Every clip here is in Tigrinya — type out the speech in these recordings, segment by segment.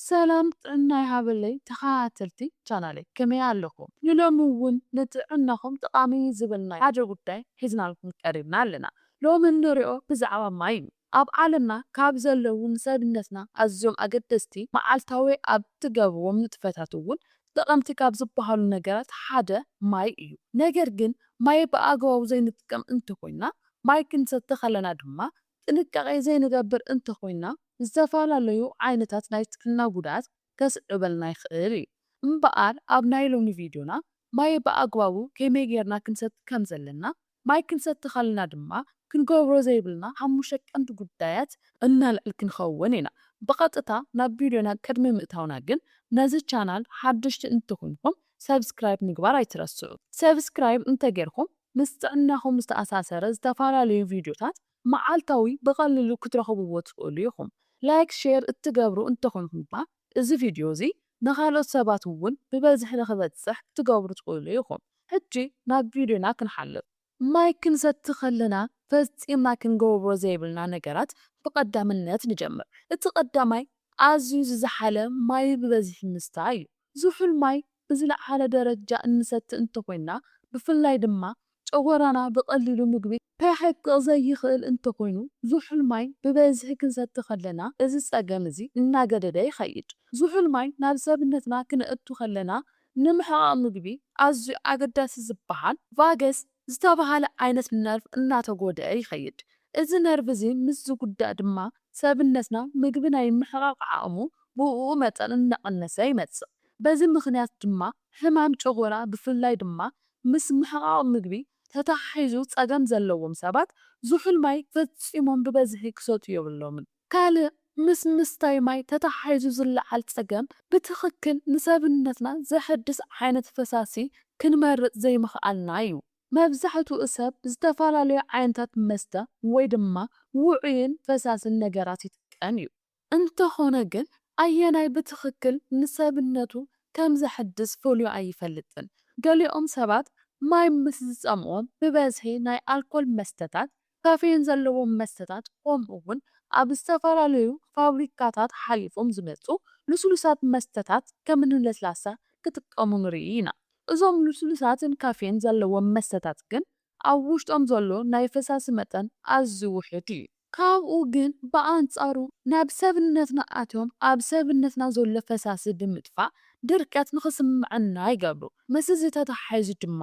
ሰላም ጥዕና ይሃበለይ ተኻታተልቲ ቻናለይ ከመይ ኣለኹም ንሎሚ እውን ንጥዕናኹም ጠቓሚ እዩ ዝበልናዮ ሓደ ጉዳይ ሒዝናልኩም ቀሪብና ኣለና ሎሚ እንሪኦ ብዛዕባ ማይ እዩ ኣብ ዓለምና ካብ ዘለዉ ንሰብነትና ኣዝዮም ኣገደስቲ መዓልታዊ ኣብ እትገብርዎም ንጥፈታት እውን ጠቐምቲ ካብ ዝበሃሉ ነገራት ሓደ ማይ እዩ ነገር ግን ማይ ብኣግባቡ ዘይንጥቀም እንተኾይና ማይ ክንሰቲ ከለና ድማ ጥንቃቄ ዘይንገብር እንተኾይንና ዝተፈላለዩ ዓይነታት ናይ ጥዕና ጉድኣት ከስዕበልና ይኽእል እዩ። እምበኣር ኣብ ናይ ሎሚ ቪድዮና ማይ ብኣግባቡ ከመይ ጌርና ክንሰቲ ከም ዘለና፣ ማይ ክንሰቲ ከለና ድማ ክንገብሮ ዘይብልና ሓሙሽተ ቀንዲ ጉዳያት፣ እነልዕል ክንኸውን ኢና። ብቐጥታ ናብ ቪድዮና ቅድሚ ምእታውና ግን ነዚ ቻናል ሓደሽቲ እንተኾይንኩም ሰብስክራይብ ምግባር ኣይትረስዑ። ሰብስክራይብ እንተጌርኩም ምስ ጥዕናኹም ዝተኣሳሰረ ዝተፈላለዩ ቪድዮታት መዓልታዊ ብቐሊሉ ክትረኽብዎ ትኽእሉ ኢኹም። ላይክ ሼር እትገብሩ እንተኾንኩም ድማ እዚ ቪድዮ እዚ ንኻልኦት ሰባት እውን ብበዝሒ ንኽበጽሕ ክትገብሩ ትኽእሉ ኢኹም። ሕጂ ናብ ቪድዮና ክንሓልፍ። ማይ ክንሰቲ ከለና ፈጺምና ክንገብሮ ዘይብልና ነገራት ብቐዳምነት ንጀምር። እቲ ቀዳማይ ኣዝዩ ዝዘሓለ ማይ ብበዝሒ ምስታይ እዩ። ዝሑል ማይ ብዝለዓለ ደረጃ እንሰቲ እንተኾይንና፣ ብፍላይ ድማ ጨጎራና ብቐሊሉ ምግቢ ከሕቅቕ ዘይኽእል እንተኾይኑ፣ ዝሑል ማይ ብበዝሒ ክንሰቲ ከለና እዚ ጸገም እዚ እናገደደ ይኸይድ። ዝሑል ማይ ናብ ሰብነትና ክነእቱ ከለና ንምሕቓቕ ምግቢ ኣዝዩ ኣገዳሲ ዝበሃል ቫገስ፣ ዝተበሃለ ዓይነት ነርቭ እናተጎድኣ ይኸይድ። እዚ ነርቭ እዚ ምስ ዝጉዳእ ድማ ሰብነትና ምግቢ ናይ ምሕቓቕ ዓቕሙ ብኡኡ መጠን እናቐነሰ ይመጽእ። በዚ ምኽንያት ድማ ሕማም ጨጎራ ብፍላይ ድማ ምስ ምሕቓቕ ምግቢ ተተሓሒዙ ጸገም ዘለዎም ሰባት ዝሑል ማይ ፈጺሞም ብበዝሒ ክሰትዩ የብሎምን። ካልእ ምስ ምስታይ ማይ ተተሓሒዙ ዝለዓል ጸገም፣ ብትኽክል ንሰብነትና ዘሐድስ ዓይነት ፈሳሲ ክንመርጽ ዘይምኽኣልና እዩ። መብዛሕትኡ ሰብ ዝተፈላለዩ ዓይነታት መስተ ወይ ድማ ውዑይን ፈሳስን ነገራት ይጥቀም እዩ። እንተኾነ ግን ኣየናይ ብትኽክል ንሰብነቱ ከም ዘሐድስ ፈልዩ ኣይፈልጥን። ገሊኦም ሰባት ማይ ምስ ዝጸምኦም ብበዝሒ ናይ ኣልኮል መስተታት ካፌይን ዘለዎም መስተታት ከምኡ'ውን ኣብ ዝተፈላለዩ ፋብሪካታት ሓሊፎም ዝመጹ ልስሉሳት መስተታት ከምኒ ለስላሳ ክጥቀሙ ንርኢ ኢና። እዞም ልስሉሳትን ካፌይን ዘለዎም መስተታት ግን ኣብ ውሽጦም ዘሎ ናይ ፈሳሲ መጠን ኣዝዩ ውሑድ እዩ። ካብኡ ግን ብኣንጻሩ ናብ ሰብነትና ኣትዮም ኣብ ሰብነትና ዘሎ ፈሳሲ ብምጥፋእ ድርቀት ንኽስምዐና ይገብሩ። ምስዚ ተተሓሒዙ ድማ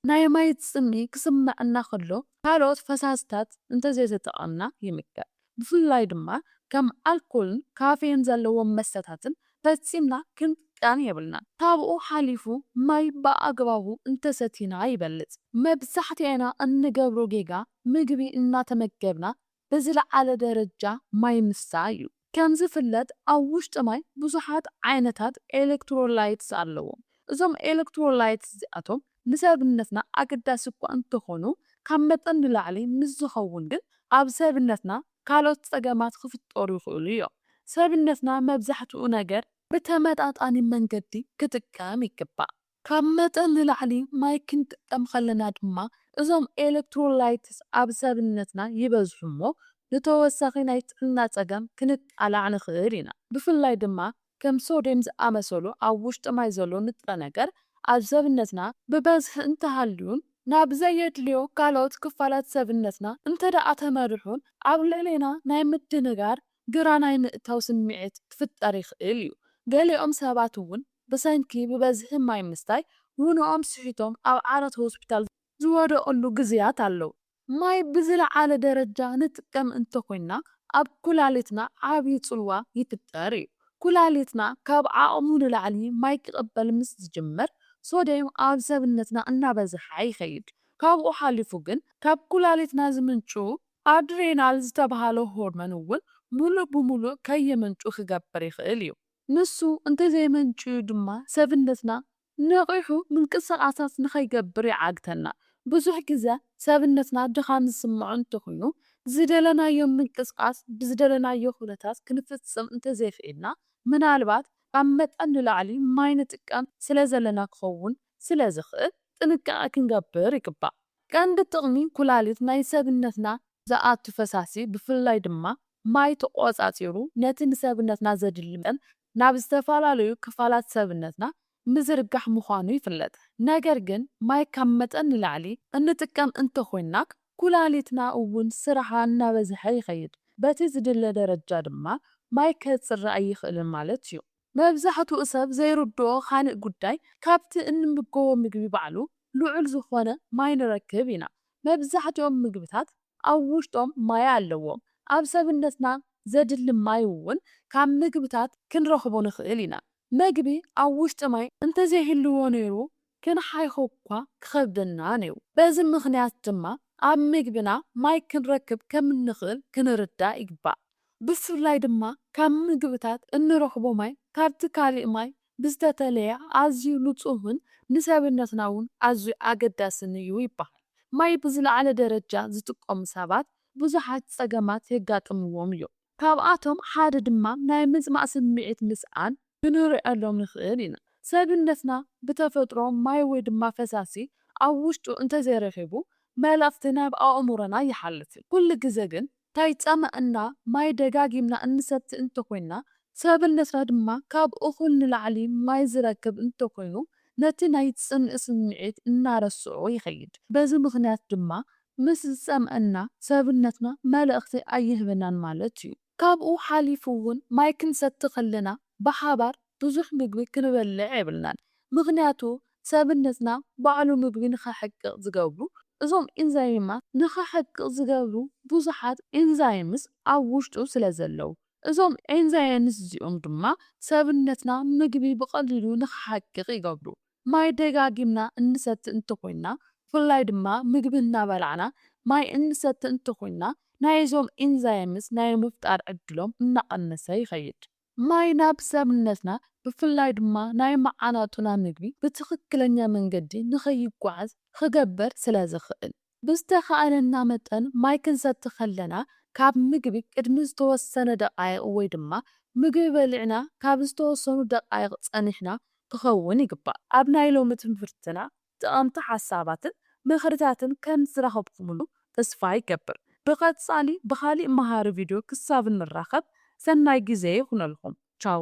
ናይ ማይ ጽምኢ ክስመዐና ከሎ ካልኦት ፈሳሲታት እንተዘይተጠቐምና ይምከር። ብፍላይ ድማ ከም ኣልኮልን ካፌን ዘለዎም መስተታትን ፈጺምና ክንጥቀም የብልናን። ካብኡ ሓሊፉ ማይ ብኣግባቡ እንተሰቲና ይበልጽ። መብዛሕትኤና እንገብሮ ጌጋ ምግቢ እናተመገብና ብዝለዓለ ደረጃ ማይ ምስታ እዩ። ከምዝፍለጥ ኣብ ውሽጢ ማይ ብዙሓት ዓይነታት ኤለክትሮላይትስ ኣለዉ። እዞም ኤለክትሮላይትስ እዚኣቶም ንሰብነትና ኣገዳሲ እኳ እንተኾኑ ካብ መጠን ንላዕሊ ምስ ዝኸውን ግን ኣብ ሰብነትና ካልኦት ጸገማት ክፍጠሩ ይኽእሉ እዮም። ሰብነትና መብዛሕትኡ ነገር ብተመጣጣኒ መንገዲ ክጥቀም ይግባእ። ካብ መጠን ንላዕሊ ማይ ክንጥቀም ከለና ድማ እዞም ኤለክትሮላይትስ ኣብ ሰብነትና ይበዝሑ እሞ ንተወሳኺ ናይ ጥዕና ጸገም ክንቃላዕ ንኽእል ኢና። ብፍላይ ድማ ከም ሶድየም ዝኣመሰሉ ኣብ ውሽጢ ማይ ዘሎ ንጥረ ነገር ኣብ ሰብነትና ብበዝሒ እንተሃልዩን ናብ ዘየድልዮ ካልኦት ክፋላት ሰብነትና እንተድኣ ተመሪሑን ኣብ ልዕሌና ናይ ምድንጋር ግራ ናይ ምእታው ስምዒት ክፍጠር ይኽእል እዩ። ገሊኦም ሰባት እውን ብሰንኪ ብበዝሒ ማይ ምስታይ ውነኦም ስሒቶም ኣብ ዓራት ሆስፒታል ዝወደቕሉ ግዜያት ኣለዉ። ማይ ብዝለዓለ ደረጃ ንጥቀም እንተኾይንና ኣብ ኩላሊትና ዓቢ ጽልዋ ይፍጠር እዩ። ኩላሊትና ካብ ዓቕሙ ንላዕሊ ማይ ክቕበል ምስ ዝጅምር ሶድየም ኣብ ሰብነትና እናበዝሓ ይኸይድ። ካብኡ ሓሊፉ ግን ካብ ኩላሊትና ዝምንጩ ኣድሬናል ዝተብሃለ ሆርሞን እውን ምሉእ ብምሉእ ከየመንጩ ክገብር ይኽእል እዩ። ንሱ እንተዘየመንጭዩ ድማ ሰብነትና ነቒሑ ምንቅስቓሳት ንኸይገብር ይዓግተና። ብዙሕ ግዘ ሰብነትና ድኻም ዝስምዖ እንተኹይኑ ዝደለናዮ ምንቅስቓስ ብዝደለናዮ ኩነታት ክንፍፅም እንተዘይኽኢልና ምናልባት ካብ መጠን ንላዕሊ ማይ ንጥቀም ስለዘለና ክኸውን ስለዝኽእል ጥንቃቐ ክንገብር ይግባእ። ቀንዲ ጥቕሚ ኩላሊት ናይ ሰብነትና ዝኣቱ ፈሳሲ ብፍላይ ድማ ማይ ተቖጻጺሩ ነቲ ንሰብነትና ዘድሊ መጠን ናብ ዝተፈላለዩ ክፋላት ሰብነትና ምዝርጋሕ ምዃኑ ይፍለጥ። ነገር ግን ማይ ካብ መጠን ንላዕሊ እንጥቀም እንተኾይንና ኩላሊትና እውን ስራሓ እናበዝሐ ይኸይድ በቲ ዝድለ ደረጃ ድማ ማይ ከጽሪ ኣይኽእልን ማለት እዩ። መብዛሕትኡ ሰብ ዘይርድኦ ካልእ ጉዳይ፣ ካብቲ እንምገቦ ምግቢ ባዕሉ ልዑል ዝዀነ ማይ ንረክብ ኢና። መብዛሕትኦም ምግብታት ኣብ ውሽጦም ማይ ኣለዎም። ኣብ ሰብነትና ዘድሊ ማይ እውን ካብ ምግብታት ክንረኽቦ ንኽእል ኢና። መግቢ ኣብ ውሽጢ ማይ እንተዘይህልዎ ነይሩ፣ ክንሓይኾ'ኳ ክኸብደና ነይሩ። በዚ ምኽንያት ድማ ኣብ ምግብና ማይ ክንረክብ ከም እንኽእል ክንርዳእ ይግባእ። ብፍላይ ድማ ካብ ምግብታት እንረኽቦ ማይ ካብቲ ካልእ ማይ ብዝተፈለየ ኣዝዩ ንጹህን ንሰብነትና'ውን ኣዝዩ ኣገዳስን'ዩ ይበሃል። ማይ ብዝለዓለ ደረጃ ዝጥቀሙ ሰባት ብዙሓት ጸገማት የጋጥምዎም'ዮም። ካብኣቶም ሓደ ድማ ናይ ምጽማእ ስምዒት ምስኣን ክንርእየሎም ንኽእል ኢና። ሰብነትና ብተፈጥሮ ማይ ወይ ድማ ፈሳሲ ኣብ ውሽጡ እንተዘይረኺቡ መልእኽቲ ናብ ኣእምሮና ይሓልፍ። ኩሉ ግዘ ግን ከይጸመእና ማይ ደጋጊምና እንሰቲ እንተኾይንና ሰብነትና ድማ ካብ እኹል ንላዕሊ ማይ ዝረክብ እንተኾይኑ ነቲ ናይ ጽምኢ ስምዒት እናረስዖ ይኸይድ። በዚ ምኽንያት ድማ ምስ ዝጸምኣና ሰብነትና መልእኽቲ ኣይህበናን ማለት እዩ። ካብኡ ሓሊፉ እውን ማይ ክንሰቲ ከለና ብሓባር ብዙሕ ምግቢ ክንበልዕ የብልናን። ምኽንያቱ ሰብነትና ባዕሉ ምግቢ ንኸሕቅቕ ዝገብሩ እዞም ኢንዛይማት ንኸሕቅቕ ዝገብሩ ብዙሓት ኢንዛይምስ ኣብ ውሽጡ ስለዘለዉ። እዞም ኢንዛይንስ እዚኦም ድማ ሰብነትና ምግቢ ብቐሊሉ ንኸሓቅቕ ይገብሩ። ማይ ደጋጊምና እንሰቲ እንተኾይንና ብፍላይ ድማ ምግቢ እናበላዕና ማይ እንሰቲ እንተኾይንና ናይዞም ኢንዛይምስ ናይ ምፍጣር ዕድሎም እናቐነሰ ይኸይድ። ማይ ናብ ሰብነትና ብፍላይ ድማ ናይ መዓናጡና ምግቢ ብትኽክለኛ መንገዲ ንኸይጓዓዝ ኽገብር ስለዝኽእል። ብዝተኻእለና መጠን ማይ ክንሰቲ ከለና ካብ ምግቢ ቅድሚ ዝተወሰነ ደቓይቕ ወይ ድማ ምግቢ በሊዕና ካብ ዝተወሰኑ ደቓይቕ ጸኒሕና ክኸውን ይግባእ። ኣብ ናይ ሎሚ ትምህርትና ጠቐምቲ ሓሳባትን ምኽርታትን ከም ዝረኸብኩምሉ ተስፋ ይገብር። ብቐጻሊ ብኻሊእ መሃሪ ቪድዮ ክሳብ እንራኸብ ሰናይ ግዜ ይኹነልኩም። ቻው!